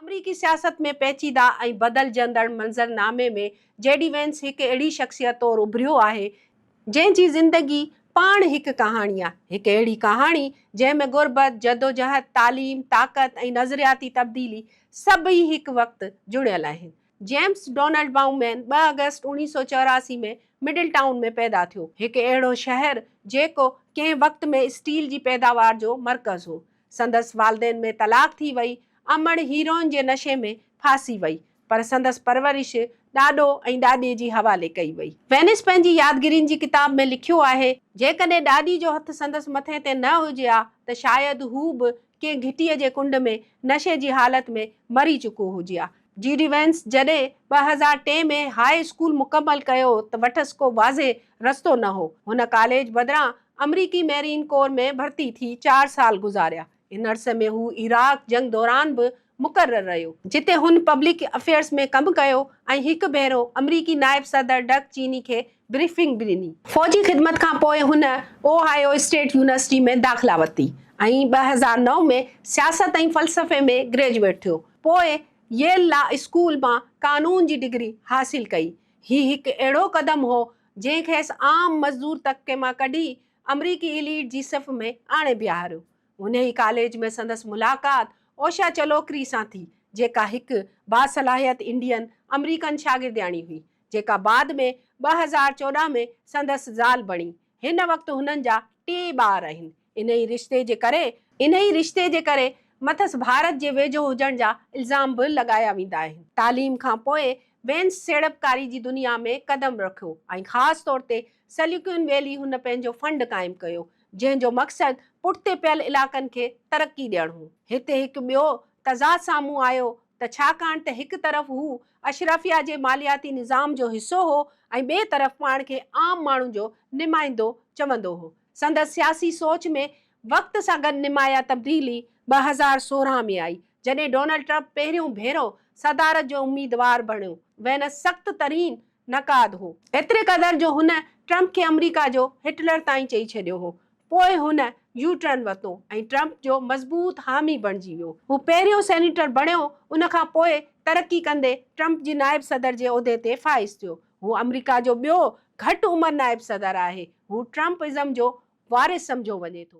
آمريڪي سياست ۾ پيچيده ۽ بدلجندڙ منظرنامي ۾ جي ڊي وينس هڪ اهڙي شخصيت طور اڀريو آهي، جنهن جي زندگي پاڻ هڪ ڪهاڻي آهي، هڪ اهڙي ڪهاڻي جنهن ۾ غربت، جدوجهد، تعليم، طاقت ۽ نظرياتي تبديلي سڀئي هڪ وقت جڙيل آهن. جيمس ڊونلڊ بائومين ٻه آگسٽ اوڻيهه سؤ چوراسي ۾ مڊل ٽائون ۾ پيدا ٿيو، هڪ اهڙو شهر جيڪو ڪنهن وقت ۾ اسٽيل جي پيداوار جو مرڪز هو. سندس والدين ۾ طلاق ٿي وئي. امڙ هيروئن جي نشي ۾ ڦاسي وئي. پر سندس پرورش ڏاڏو ۽ ڏاڏي جي حوالي ڪئي وئي. وينس پنهنجي يادگيرين جي ڪتاب ۾ لکيو آهي، جيڪڏهن ڏاڏي جو هٿ سندس مٿي تي نه هجي ها ته شايد هو به ڪنهن گهٽيء جي ڪنڊ ۾ نشي جي حالت ۾ مري چڪو هجي ها. جي ڊي وينس جڏهن ٻه هزار ٽي ۾ هاء اسڪول مڪمل ڪيو ته وٽس ڪو واضح رستو نه هو. هن ڪاليج بدران آمريڪي ميرين ڪور ۾ ڀرتي ٿي چار سال گذاريا. ان عرصي ۾ هو عراق جنگ دوران به مقرر رهيو. جتي هن پبلڪ افيئرز ۾ ڪم ڪيو ۽ هڪ ڀيرو آمريڪي نائب صدر ڊڪ چيني کي بريفنگ به ڏني. فوجي خدمت کان پوء هن اوهائيو اسٽيٽ يونيورسٽي ۾ داخلا ورتي ۽ ٻه هزار نو ۾ سياست ۽ فلسفي ۾ گريجوئيٽ ٿيو. پوء ييل لا اسڪول مان قانون جي ڊگري حاصل ڪئي. هي هڪ اهڙو قدم هو، جنهن کيس عام مزدور طبقي مان ڪڍي آمريڪي ايليٽ جي صف ۾ آڻي بيهاريو. انهيء ڪاليج ۾ سندس ملاقات اوشا چلوڪري سان ٿي، جيڪا هڪ باصلاحيت انڊين آمريڪن شاگردياڻي هئي، جيڪا بعد ۾ ٻه هزار چوڏهن ۾ سندس زال بڻي. هن وقت هنن جا ٽي ٻار آهن. انهيء رشتي جي ڪري انهيء رشتي جي ڪري مٿس ڀارت جي ويجهو هجڻ جا الزام به لڳايا ويندا آهن. تعليم کان پوء وينس سيڙپڪاري جي دنيا ۾ قدم رکيو ۽ خاص طور تي سليڪون ويلي هن پنهنجو فنڊ قائم ڪيو، جنهن جو مقصد پٺتي پيل علائقن کي ترقي ڏيڻ هو. هتي هڪ ٻيو تضاد سامهون آيو ته ڇاڪاڻ ته هڪ طرف هو اشرافيا جي مالياتي نظام جو حصو هو ۽ ٻئي طرف پاڻ کي عام ماڻهن جو نمائندو چوندو هو، سندس سياسي سوچ ۾ وقت سان گڏ نمايا تبديلي ٻه هزار سورهن ۾ آئي جڏهن ڊونلڊ ٽرمپ پهريون ڀيرو صدارت جو اميدوار بڻيو وينس سخت ترين نقاد هو، ايتري قدر جو هن ٽرمپ کي آمريڪا جو هٽلر تائين چئي ڇڏيو هو، پوء هن يو ٽرن ورتو ۽ ٽرمپ جو مضبوط حامي بڻجي ويو، هو پهريون سينيٽر بڻيو ان کان پوء ترقي ڪندي ٽرمپ جي نائب صدر جي عهدي تي فائز ٿيو. هو آمريڪا جو ٻيو گهٽ عمر نائب صدر آهي. هو ٽرمپ ازم جو وارث سمجهيو وڃي ٿو.